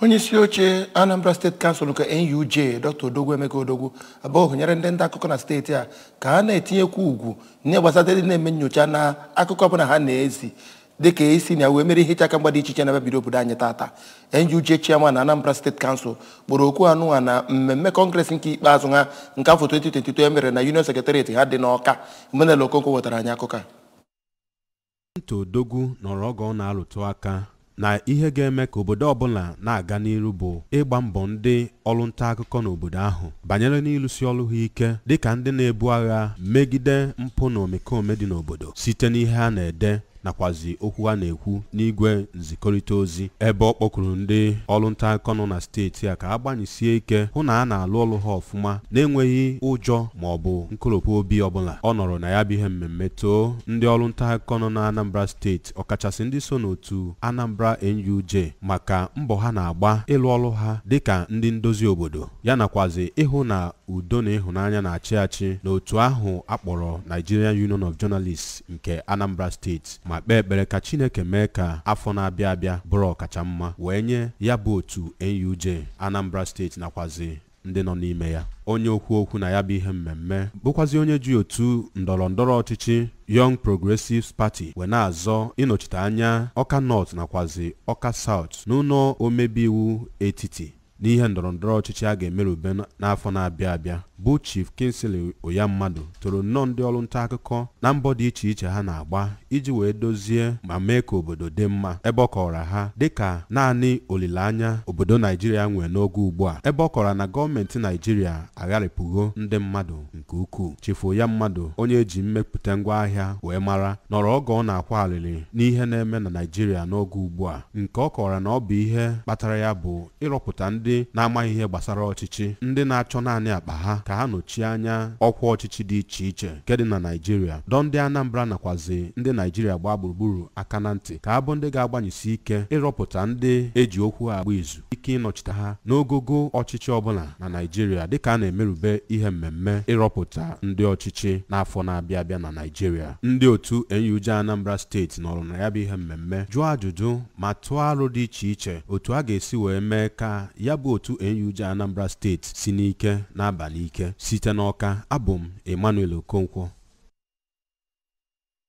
onye isi oche anambra state council nke nuj dr odogwu emeka odogwu abụọ nyere ndị nta akụkọ na steeti a ka ha na-etinyekwu uchu n'ihe gbasara ndị na-eme nyocha na akụkọ ọbụla ha na-ezi dịka esi na wee merie ihe iche aka mgba dị iche iche na-abịabido obodo anyị tata nuj chairman na anambra state council kpọrọ oku anụnwa na mmemme congress nke ikpeazụ ha nke afọ 2022 e mere na union secretariat ha dị n'ọka emmanuel okonkwọ wetara anyị akụkọ a Dọkịta Odogwu nọrọ oge ọ na-alụtụ aka na ihe ga-eme ka obodo ọbụla na-aga n'iru bụ ịgba mbọ ndị ọrụ nta akụkọ n'obodo ahụ banyere n'ịlụsi ọrụ ha ike dịka ndị na-ebu agha megide mpụ na omekome dị n'obodo site n'ihe ha na-ede nakwazi okwu ha na-ekwu n'igwe zikọrịta ozi ebe ọ kpọkuru ndị ọrụ nta akụkọ nọ na steeti a ka ha gbanyisie ike hụ na ha na-alụ ọrụ ha ọfụma na-enweghị ụjọ ma ọ bụ nkoropụ obi ọbụla ọ nọrọ na ya bụ ihe mmemme too ndị ọrụ nta akụkọ nọ na Anambra steeti ọkachasị ndị so n'otu Anambra NUJ maka mbọ ha na-agba ịlụ ọrụ ha dịka ndị ndozi obodo ya nakwazi ịhụ na udo na ịhụnanya na-achị achị n'otu ahụ a kpọrọ Nigerian Union of Journalists nke Anambra steeti ma kpee ekpere ka Chineke mee ka afọ na-abịa abịa bụrụ ọkacha mma wee nye ya bụ otu NUJ Anambra steeti nakwazi ndị nọ n'ime ya onye okwu okwu na ya bụ ihe mmemme bụkwazi onye ji otu ndọrọ ndọrọ ọchịchị Young Progressives Party wee na-azọ ịnọchite anya Ọka North nakwazi Ọka South n'ụlọ omebe iwu etiti n'ihe ndọrọndọrọ ọchịchị a ga-emerube n'afọ na-abịa abịa bụ Chief Kingsley Ụyammadụ toro nnọọ ndị ọrụ nta akụkọ na mbọ dị iche iche ha na-agba iji wee dozie ma mee ka obodo dị mma ebe ọ kọwara ha dịka naanị olileanya obodo Naijiria nwere n'oge ugbu a ebe ọ kọwara na gọọmenti Naijiria agharịpụgo ndị mmadụ nke ukwuu Chief Ụyammadụ onye eji mmepụta ngwa ahịa wee mara nọrọ oge ọ na-akwa alịlị n'ihe na-eme na Naịjirịa n'oge ugbu a nke ọ kọwara na ọ bụ ihe kpatara ya bụ ịrọpụta ndị na-amaghị ihe gbasara ọchịchị ndị na-achọ naanị akpa ha ka ha nọchie anya ọkwa ọchịchị dị iche iche nke dị na Naịjirịa dọ ndị Anambra nakwazi ndị Naịjirịa gbaa gburugburu aka na ntị ka ha bụ ndị ga-agbanyesi ike ịrọpụta ndị eji okwu agba izu ike ịnọchite ha n'ogogo ọchịchị ọbụla na Naịjirịa dịka a na-emerube ihe mmemme ịrọpụta ndị ọchịchị n'afọ na-abịa abịa na Naịjirịa ndị otu NUJ Anambra steeti nọrọ na ya bụ ihe mmemme jụọ ajụjụ ma tụọ aro dị iche iche otu a ga-esi wee mee ka ya bụ otu NUJ Anambra steeti si n'ike na-aba n'ike site n'Ọka abụ m Emmanuel Okonkwo